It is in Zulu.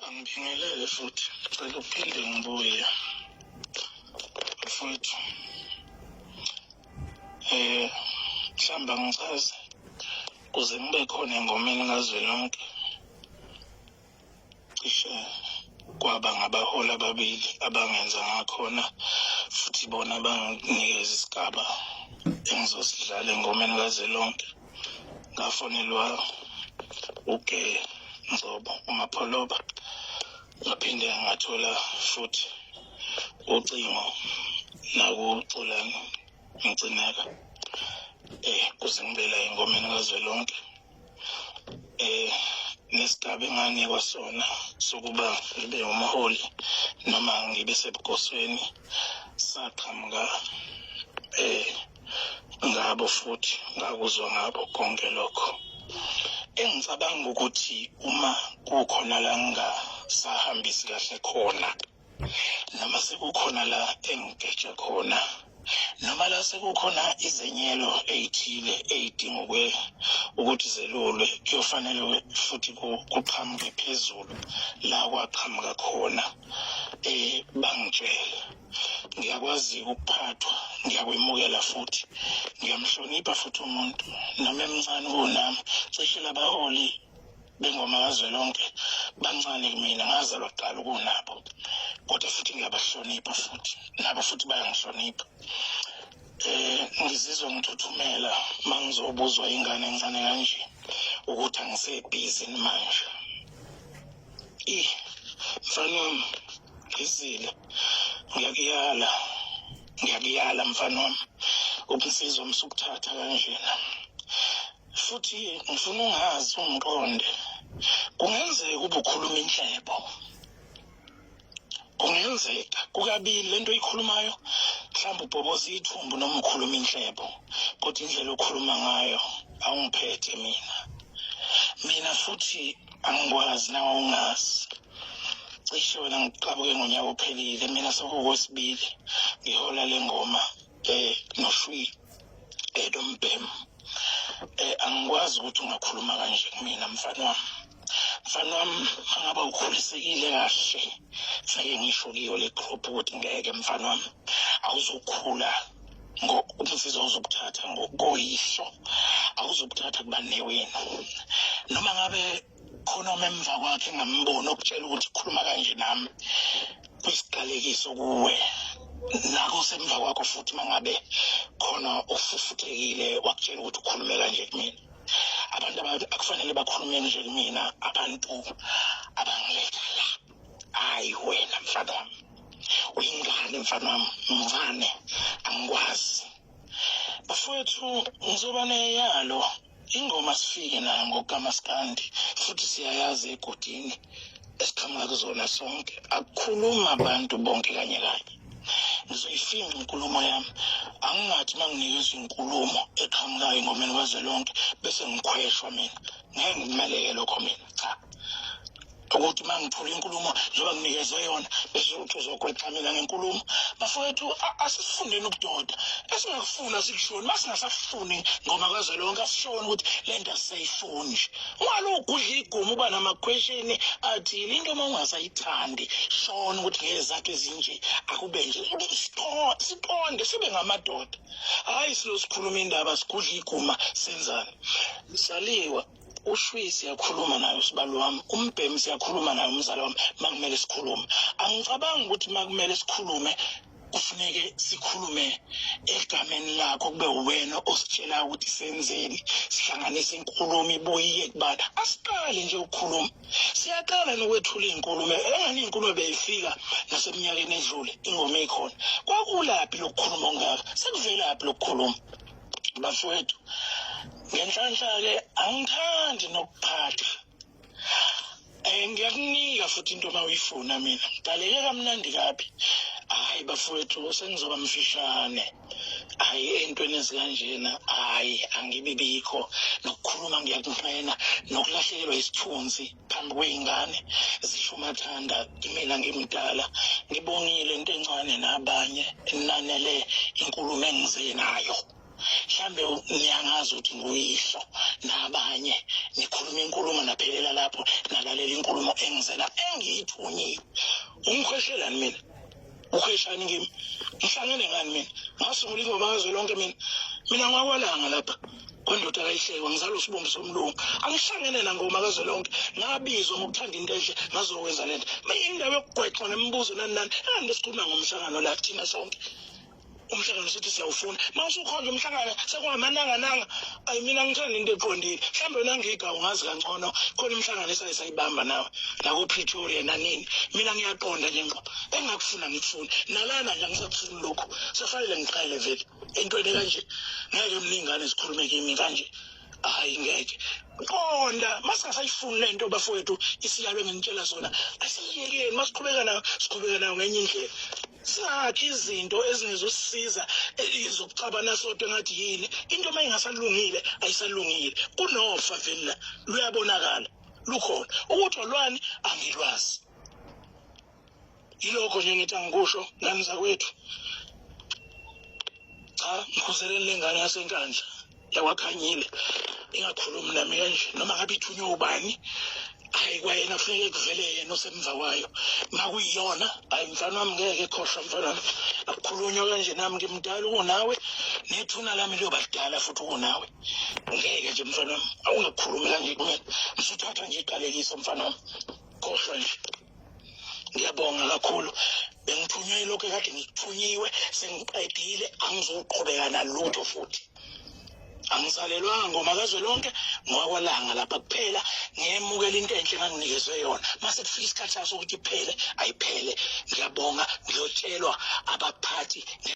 Angibingelele futhi cela uphinde ngibuye mfowethu eh mhlawumbe angisazi kuze ngibe khona engomeni kazwelonke cishe kwaba ngabaholi ababili abangenza ngakhona futhi bona banginikeza isigaba engizosidlala engomeni kazwelonke ngafonelwa uke nzobo umapholoba ngaphinde ngathola futhi ucingo nakuxolani ngigcineka eh kuze ngibela engomeni kazwelonke eh nesigaba enganikwa sona sokuba ngibe umholi noma ngibe sebugosweni saqhamuka eh ngabo futhi ngakuzwa ngabo konke lokho engicabanga ukuthi uma kukhona la ngingasahambisi kahle khona noma sekukhona la engigeje khona noma la sekukhona izenyelo ey'thile ey'dinga ukuthi zelulwe kuyofanele futhi kuqhamuke phezulu la kwaqhamuka khona um bangitshele ngiyakwazi ukuphathwa ngiyakwemukela futhi ngiyamhlonipha futhi umuntu noma emncane kunami cishe labaholi bengoma kazwelonke bancane kumina ngazalwa kuqala ukunabo kodwa futhi ngiyabahlonipha futhi nabo futhi bayangihlonipha eh ngizizwa ngithuthumela mangizobuzwa ingane encane kanje ukuthi angisebhizi manje Eh, mfana wami ngizile ngiyakuyala ngiyakuyala mfana wami ubunsizwa umsukuthatha kanjena futhi ngifuna ungazi ungiqonde kungenzeka ubukhuluma inhlebo kungenzeka kukabili lento oyikhulumayo mhlawumbe ubhoboza ithumbu noma ukhuluma inhlebo kodwa indlela okhuluma ngayo awungiphethe mina mina futhi angikwazi nawe ungazi cishe wena ngiqabuke ngonyaka ophelile mina sekuwesibili ngihola le ngoma eh noshwi edombhem eh, eh angikwazi ukuthi ungakhuluma kanje kumina mfana wami mfana wami angaba ukhulisekile kahle sake ngisho kiyo le group ukuthi ngeke mfana wami awuzokhula umsizi awuzokuthatha ngokoyihlo awuzokuthatha kubanewenu noma ngabe khonoma emva kwakhe ngambona okutshela ukuthi khuluma kanje nami kwisiqalekiso kuwe nako semva kwakho futhi mangabe khona ofufuthekile wakutshela ukuthi ukhulume kanje kumina abantu akufanele bakhulume nje kumina abantu abangiletha la hayi wena mfana wami uyingane mfana wami mfane angikwazi bafowethu ngizoba neyalo ingoma sifike nayo ngokukamaskandi futhi siyayazi egodini esiqhamuka kuzona sonke akukhuluma abantu bonke kanye kanye ngizoyifinqa inkulumo yami angingathi uma nginikezwa inkulumo eqhamukayo engomeni kwazwelonke bese ngikhweshwa mina ngeke ngimaleke lokho mina cha ukuthi uma ngithula inkulumo njengoba nginikezwe yona bese ukuthi uzogwexamela ngenkulumo bafowethu asifundeni ukudoda esingakufuni asikushoni uma singasafuni ngoba kwaze lonke asishoni ukuthi le nto asisayifuni nje ungalugudla igumu uba namakhweshini athile into uma ungasayithandi shona ukuthi ngezathu ezinje akube nje siqonde sibe ngamadoda hhayi silosikhuluma indaba sigudla iguma senzani saliwa ushwi siyakhuluma naye usibalo wami umbhemi siyakhuluma naye umzala wami makumele sikhulume angicabangi ukuthi makumele sikhulume kufuneke sikhulume egameni lakho kube wena ositshela ukuthi senzeni sihlanganise inkulumo ibuye kubana asiqale nje ukukhuluma siyaqala nokwethula izinkulumo engani izinkulumo beyifika naseminyakeni edlule ingoma ikhona kwakulaphi lokukhuluma ongaka sekuvelaphi lokukhuluma bafowethu ngenhlanhla-ke angithandi nokuphatha um ngiyakunika futhi into uma uyifuna mina ngidaleke kamnandi kabi hhayi bafowethu sengizoba mfishane hhayi ey'ntweni ezikanjena hhayi angibibikho nokukhuluma ngiyakunqena nokulahlekelwa isithunzi phambi kwey'ngane zisho umathanda imina ngimdala ngibongile into encane nabanye enanele inkulumo engize nayo mhlambe niyangazi ukuthi nguyihlo nabanye nikhuluma inkulumo naphelela lapho nalalela inkulumo engizela engiyithunyile umkhweshelani mina ukhweshani kimi ngihlangene ngani mina ngasungula ingoma ngazwe lonke mina mina ngwakwalanga lapha kwendoda kayihlekwa ngizalwa usibumbi somlungu angihlangene nangoma kazwe lonke ngabizwa ngokuthanda into enhle ngazokwenza le nto mina indawo yokugwexwa nemibuzo nani nani engani lesikhuluma ngomhlangano la thina sonke umhlangano sithi siyawufuna uma usukhonje umhlangano sekuhamanangananga ayi mina ngithanda into eqondile mhlawumbe wena ngiga ungazi kangcono khona umhlangano esaye sayibamba nawe nakopretoria nanini mina ngiyaqonda nje ngqo engakufuna ngikufuni nalana nje angisakufuni lokhu sefanele ngiqale vele entweni kanje ngeke mningane zikhulume kimi kanje hayi ngeke qonda masingasayifuni le nto bafowethu isiyalo enginitshela zona asiyekeni masiqhubeka nayo siqhubeka nayo ngenye indlela singakhi izinto ezingezosisiza zokucabana sodwa engathi yini into uma ingasalungile ayisalungile kunofa vele luyabonakala lukhona ukuthi olwani angilwazi yilokho nje ngithi angikusho ngani zakwethu cha ngikhuzeleni lengane yasenkandla yakwakhanyile ingakhulumi nami kanje noma ngabe ithunywe ubani hayi kwayena kufuneke kuvele yena osemva kwayo makuyiyona hayi mfana wami ngeke khohlwa mfana wami akukhulunywa kanje nami ngimdala ukunawe nethuna lami liyoba lidala futhi ukunawe ngeke nje mfana wami awungakhulumi kanje kumele msuthatha nje iqalekiso mfana wami khohlwa nje ngiyabonga kakhulu bengithunywe lokho ekade ngikuthunyiwe sengiqedile angizoqhubeka nalutho futhi angisalelwanga ngoma kazwe lonke ngowakwalanga lapha kuphela ngiyemukela into enhle nganginikezwe yona mase kufika isikhathi saso ukuthi iphele ayiphele ngiyabonga ngiyotshelwa abaphathi